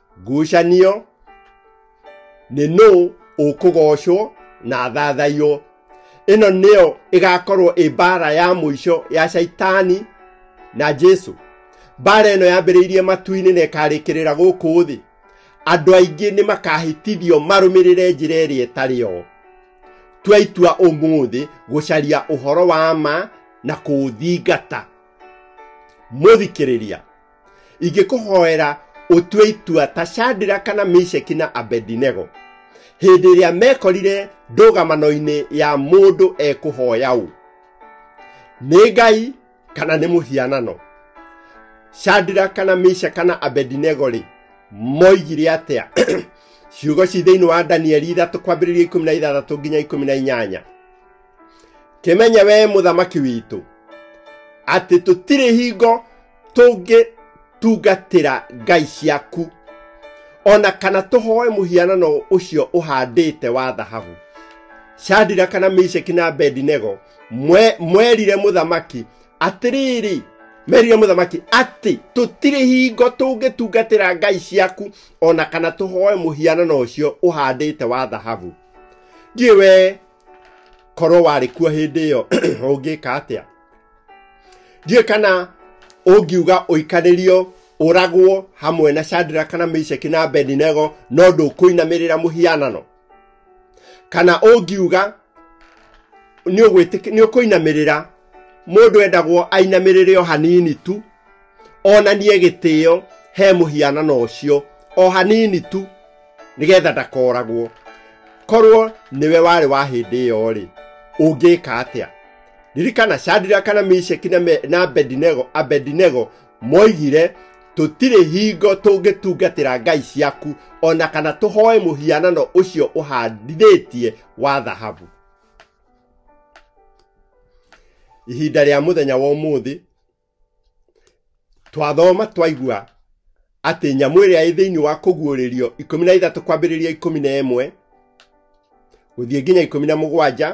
ngucanio nĩ nũ ũkũgocwo na thathaiywo ĩno nĩyo ĩgakorwo ĩ mbara ya mũico ya shaitani na jesu mbara ĩno yambĩrĩirie matu-inĩ na ĩkarĩkĩrĩra gũkũ thĩ andũ aingĩ nĩ makahĩtithio marũmĩrĩre njĩra ĩrĩa ĩtarĩ yo tua itua ũmũthĩ gũcaria ũhoro wa ma na kũũthingata mũthikĩrĩria ingĩkũhoera ũtue itua ta shandira kana misheki na abedinego hĩndĩ ĩrĩa mekorire ndũgamano-inĩ ya mũndũ ekũhoya ũ nĩ ngai kana nĩ mũhianano shandira kana misha kana abedinego rĩ moigire atĩa ciugo ci thĩinĩ wa danieli ithatũ kwambĩrĩria ikũmi na ithathatũ nginya ikũmi na inyanya kĩmenye wee mũthamaki witũ atĩ tũtirĩ hingo tũngĩtungatĩra ngai ciaku o na kana tũhoe mũhianano ũcio ũhandĩte wa thahabu shadira kana misheki na abedinego mwe- mwerire mũthamaki atĩrĩrĩ merire mũthamaki atĩ tũtirĩ hingo tũngĩtungatĩra ngai ciaku o na kana tũhoe mũhianano ũcio ũhandĩte wa thahabu ndiĩ we korwo warĩ kuo hĩndĩ ĩyo ũngĩka atĩa ndiũĩ kana ũngiuga ũikarĩrio ũragwo hamwe na shandira kana misheki na bedinego no ndũkũinamĩrĩra mũhianano kana ũngiuga nĩ ũgwĩtĩk- nĩ ũkũinamĩrĩra mũndũ endagwo ainamĩrĩre o hanini tu onanie gĩtĩo he mũhianano ũcio o hanini tu nĩgetha ndakoragwo korwo nĩwe warĩ wa hĩndĩ ĩyo rĩ ũngĩka atĩa ririkana shandira kana misheki na, me, na abedinego, abedinego moigire tũtirĩ hingo tũngĩtungatĩra ngai ciaku ona kana tũhoe mũhianano ũcio ũhandithĩtie wa thahabu ihinda rĩa mũthenya wa ũmũthĩ twathoma twaigua atĩ nyamũ ĩrĩa ĩ thĩinĩ wa kũguũrĩrio ikũmi na ithatũ kwambĩrĩria ikũmi na ĩmwe gũthiĩ nginya ikũmi na mũgwanja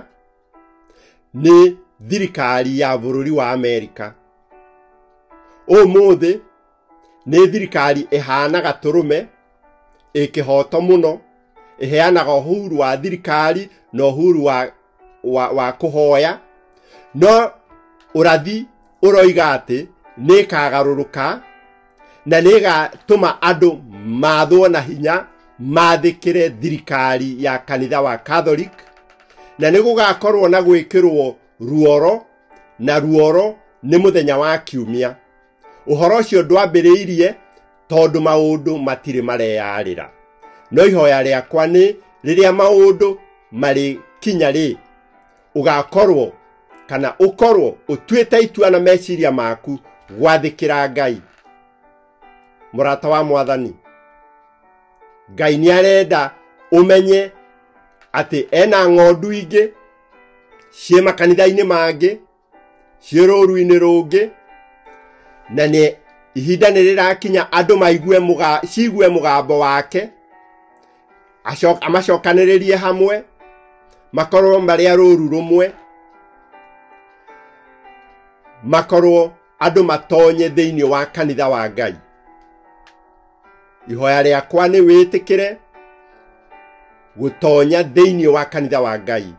nĩ thirikari ya bũrũri wa amerika ũmũthĩ nĩ thirikari ĩhana gatũrũme ĩkĩhoto mũno ĩheanaga ũhuru wa thirikari na ũhuru wa wa, wa kũhoya no ũrathi ũroiga atĩ nĩkagarũrũka na nĩgatũma andũ mathwo na hinya mathĩkĩre thirikari ya kanitha wa catholic na nĩgũgakorwo na gwĩkĩrwo ruoro na ruoro nĩ mũthenya wa kiumia ũhoro ũcio ndwambĩrĩirie tondũ maũndũ matirĩ mareyarĩra no ihoya rĩakwa nĩ rĩrĩa maũndũ marĩ kinya rĩ ũgakorwo kana ũkorwo ũtuĩte itua na meciria maku gwathĩkĩra ngai mũrata wa mwathani ngai nĩ arenda ũmenye atĩ ena ng'ondu ingĩ ciĩ makanitha-inĩ mangĩ ciĩ rũũru-inĩ rũngĩ na nĩ ihinda nĩ rĩrakinya andũ maigue mũga, ciigue mũgambo wake acoka- amacokanĩrĩrie hamwe makorwo marĩ a rũũru rũmwe makorwo andũ matonye thĩinĩ wa kanitha wa ngai ihoya rĩakwa nĩ wĩtĩkĩre gũtonya thĩinĩ wa kanitha wa ngai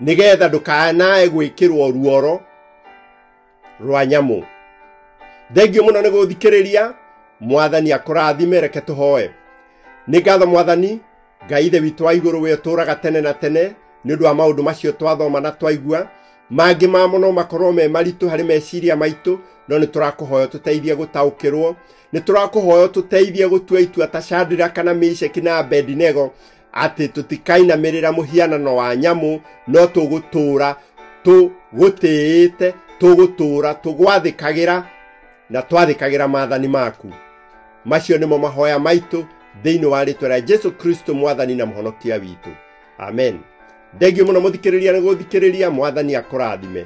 nĩgetha ndũkanae gwĩkĩrwo ruoro rwa nyamũ thengio mũno nĩ gũthikĩrĩria mwathani akũrathime reke tũhoe nĩ ngatho mwathani ngai ithe witũ wa igũrũ we ũtũũraga tene na tene nĩ ũndũ wa maũndũ macio twathoma na twaigua mangĩ mamo no makorwo me maritũ harĩ meciria maitũ no nĩ tũrakũhoya tũteithie gũtaũkĩrwo nĩ tũrakũhoya tũteithie gũtua itua ta chandira kana misheki na abedinego atĩ tũtikainamĩrĩra mũhianano wa nyamũ no tũgũtũũra tũgũtĩĩte tũgũtũũra tũgwathĩkagĩra na twathĩkagĩra maathani maku macio nĩmo mahoya maitũ thĩinĩ wa rĩtwa rĩa jesu kristo mwathani na mũhonokia witũ amen thengio mũno mũthikĩrĩria nĩ gũthikĩrĩria mwathani akũrathime